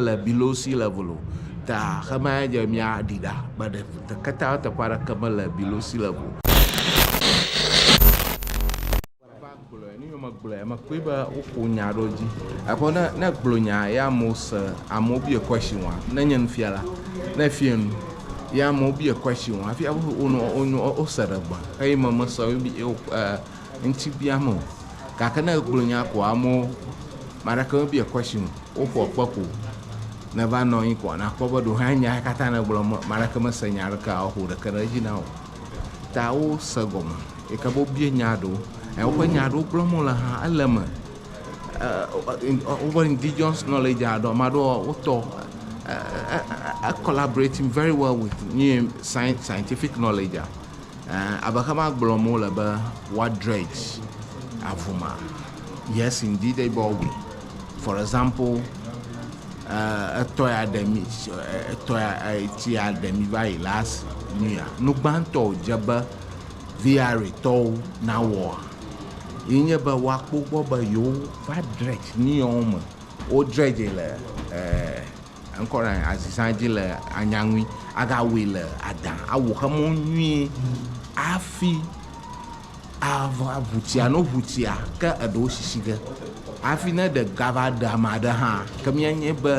le below sea level o ta xema ya dze mia ɖi ɖa be ɖe keta teƒe aɖeke me le below sea level o. gblɔe mekpɔe be woko nya ɖo dzi aƒe ne ne gblɔ nya ya mo se amewo bia question wa ne nye nufiala ne fie nu ya amewo bia question wa hafi aƒe wonɔ wonɔ wose ɖe gba eye me mese wo bi wo Ŋti biam o gake ne egblɔ nya ko amewo maɖeke me bia question o woƒoa kpe ko ne va nɔ anyi ko na kpɔ be ɖewo hã nya katã ne gblɔ maɖeke me se nya ɖeke a woƒo ɖeke ɖe dzi na o ta wo se gɔme yike be wo bia nya ɖewo eye woƒe nya ɖewo gblɔ me le hã ele me woƒe indigenous knowledge a ɖo maɖo wo tɔ e collaborating very well with scientific knowledge a. Ẽ, abe xe ma gblɔm wole be woa dredge avuma. Yes indeed they bɔ we. For example, ẽ, etɔ ya ɖe mi, etɔ ya, etsi ya ɖe mi va yi last nu ya. Nu gbãtɔ wòdze be VRA tɔwo nawɔa, ye nye be woakpɔ gbɔ be yewo va dredge nu yawo me. Wo dredge le, ẽ. Eŋkɔ ɖe anyi azizã dzi le anya ŋui, agawui le adã, awu xe mɔ nyuie afi ava ŋu tsia no ŋu tsia ke eɖewo sisi ge afi ne ɖe gava ɖe ame aɖe hã ke mienye be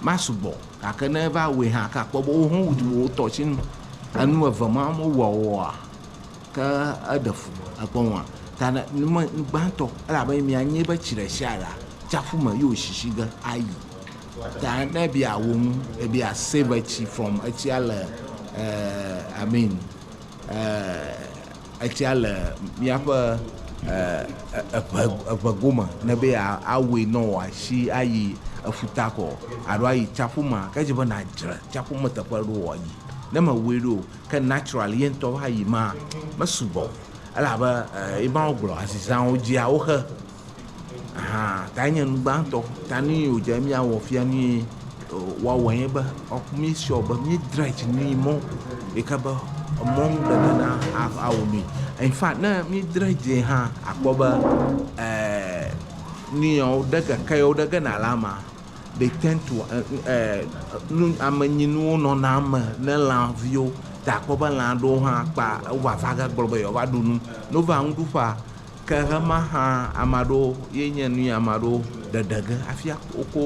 masugbɔ gake ne eva wui hã ke akpɔ be woho wu wotɔ tsi nu. Enu eve ma me wua wɔa ke eɖe fu ekpɔ nua ta ne nume nugbãtɔ elabe mienye be tsi ɖe tsia ɖea tsaƒu me ye wosisi ge ayi. Ta ne ebia awu ŋu, ebia save etsi from etsia le uh, I mean uh, etsia le míaƒe uh, eʋe eʋe gome ne be awui nɔ wòasi ayi efuta kɔ alo ayi tsaƒu ma ke dze be nadzre tsaƒu me teƒe ɖo wòayi ne mewui ɖo ke natural ye ŋutɔ va yi ma mesugbɔ elabe uh, emawo gblɔ azizãwo dzia woxe Aha tae nye nu gbãtɔ. Ta nu yi wòdze be míawɔ fia, nu yi woawɔe nye be, mí sure be mí dry dzi nyuie mɔ ɖeka be emɔ nu ɖe me na awɔ nui. In fact ne mí dry dzi hã akpɔ be nu yi wo ɖe keke yi wo ɖe ge na lã ma they tend to ame nyi nuwo nɔna eme ne lã viwo. Ta akpɔ be lã ɖewo hã kpa wova va ge gblɔ be yewoa va ɖu nu. Ne wova nuɖuƒea. Ke ɣema hã ame aɖewo ye nye nu ye ame aɖewo ɖeɖe ge hafi woko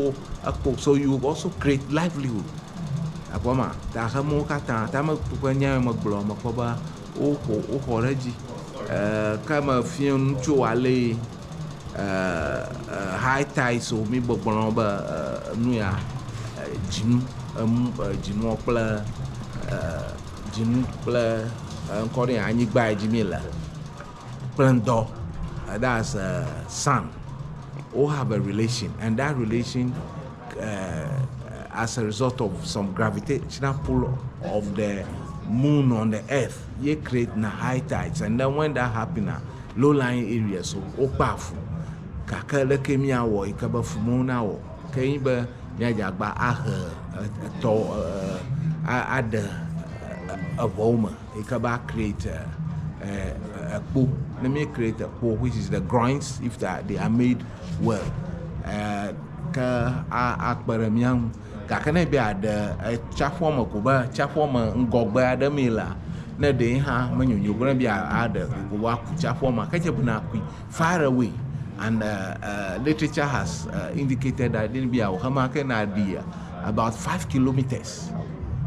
ekpo so you also create livelihood akpɔ ma ta xemewo katã ta me ƒe nya me gblɔ me kpɔ be woxɔ woxɔ ɖe edzi ke me fia nu tso ale yi high ties o mi gbɔgblɔ be nu ya dzinu emu dzinuɔ kple dzinu kple ŋkɔ ɖe anyigba yi dzi mi le kple ŋdɔ thats sun wo have a relation and that relation as a result of some gravitational pull of the moon on the earth ye create na high tides and then when that happen ah low lying areas wo kpa fu gake leke mia wɔ yi ke be fu mewo na wɔ ke yi be mia dze agba ahe etɔ aɖe eŋɔwo me. Eke ba create ekpo. Ne mi create ekpo which is the groins if that they are made well. Eh, ke akpe ɖe mía ŋu. Gake ne be aɖe tsiaƒua me ko be tsiaƒua me ŋgɔgbe aɖe mee la, ne ɖee hã menyonyo be ne be aɖe ko be aku tsiaƒua me ke dze be na kui. Far away and literature has indicated that it'll be our home can I be about five kilometers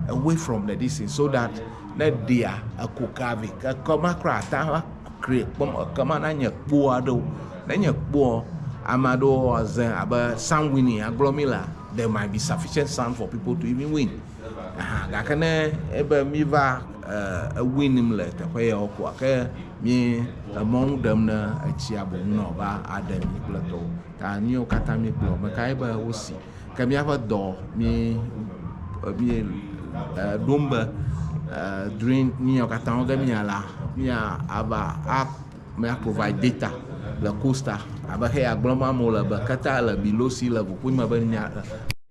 away from the this thing so that ne ɖia eko kavi ke kema kura ata va kri kpɔm ekema na nye kpo aɖewo ne nye kpoɔ ame aɖewo aze abe sun winning agblɔ mi la there might be sufficient sun for people to even win. Aha gake ne ebe míva e ewin nim le teƒe yawo koa ke mí emɔ nu ɖem ne etsia boŋ nɔ va aɖe mi kple tɔwo ta míwo katã míekplɔ me kae be wosi ke míaƒe dɔ mí mí e ɖom be e during nu yawo katã wo ge mía la mía ava a mía provide data le kosta abe heya gblɔm amewo le be keta le bilosi le ʋuƒoame be nya.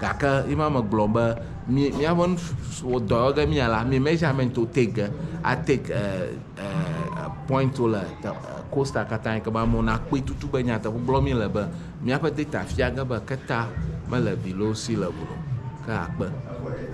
Gake ye ma megblɔ be mi miaƒe nusu dɔ yɔ ge mia la mi measurement wo take ge a take point wo le costa katã yi ke be amewo na kpɔe tutu be nyateƒe gblɔ mi le be miaƒe data fia ge be keta mele below sea level o ke akpe.